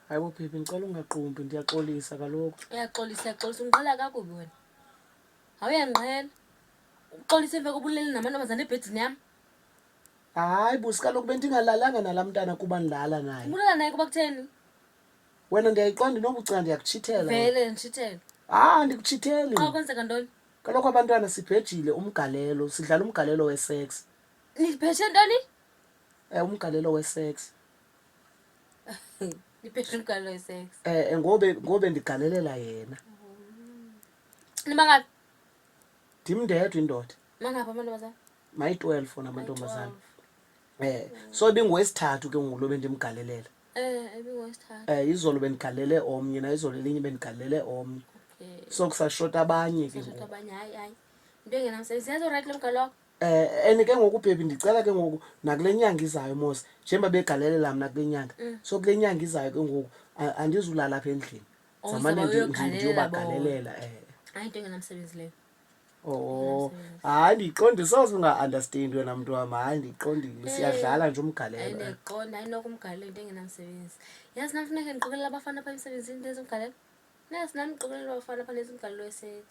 Hayi bo bhebhi ndicela ungaqumbi ndiyaxolisa kaloku. Uyaxolisa uyaxolisa undiqala kakubi wena. Hawu uyandiqhela. Uxolisa emva koba ulele namantombazana ebhedini yam. Hayi busi kaloku bendingalalanga nala mntana kuba ndilala naye. Ubulala naye kuba kutheni? Wena ndiyayiqonda inobucinga ndiyakutshithela. Vele nditshithele. Hayi andikutshitheli. Xa kwenzeka ntoni? Kaloku abantwana sibhejile umgalelo, sidlala umgalelo wesex. Nibheshe ntoni? Eh umgalelo wesex. Ipesha umgalelo wesex. Eh, eh ngobe ngobe ndigalelela yena. Nimangaphi? Ndim ndedwa indoda. Mangaphi amantombazana? Mayi 12 ona amantombazana. Eh, so ibingowesithathu ke ngoku lo bendimgalelela. Eh, ibingowesithathu. Eh, izolo bendigalele omnye na izolo elinye bendigalele omnye. Okay. So kusashota abanye ke Sasho ngoku. abanye hayi hayi. Into engenamsebenzi. Senza right lo mgalelo wakho. Eh and ke ngoku baby ndicela ke ngoku nakule nyanga izayo mos njengoba begalelela mna kule nyanga. Mm. So kule nyanga izayo ke ngoku a- andizulala apha endlini. Oh, Zamane so ndi- ndi- uyogalelela ndiyobagalelela eh. hayi into engenamsebenzi leyo Oh, hayi ndiqonde soze unga-understand wena mntu wam hayi ndiqondile siyadlala nje umgalelo eh. andiqonda ayinokumgalela into engenamsebenzi yazi nam funeke ndiqokelela abafana pha emsebenzini ndenza umgalelo nazi nam ndiqokelela abafana pha ndenza umgalelo wesex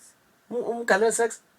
Um- umgalelo sex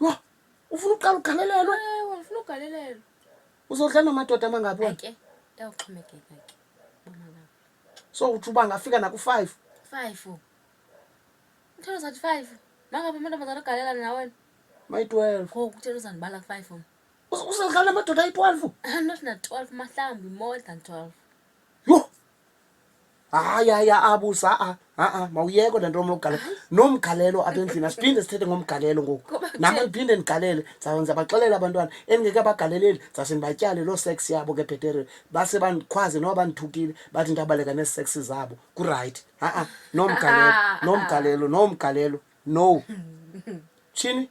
Yho, ufuna uqala ugalelelwa? Ewe, ndifuna ugalelelwa. Uzodlala namadoda amangaphi wena? Ke, yawuxhomekeka ke. So uthi uba ngafika naku-five? Five. Uthanda zathi five. Mangaphi amantombazana agalela nawen? Mayi-twelve. Ngoku uthanda uzandibala ku-five wena. Uzodlala namadoda ayi-twelve? I'm not na-twelve, mahlambi, more than twelve. hayi hayi aabus a-a a-a mawuyeko le nto omlokugalela nomgalelo apha endlini asiphinde sithethe ngomgalelo ngoku Ngoba nam kutheni? andiphinde ndigalele ndizawuze ndizabaxelela abantwana endingeke abagaleleli ndizawuse ndibatyale loo sex yabo ke bhetere base bandikhwaze noba bandithukile bathi ndabaleka nee-sex zabo kurayithi a-a nomgalelo nomgalelo nomgalelo no tshini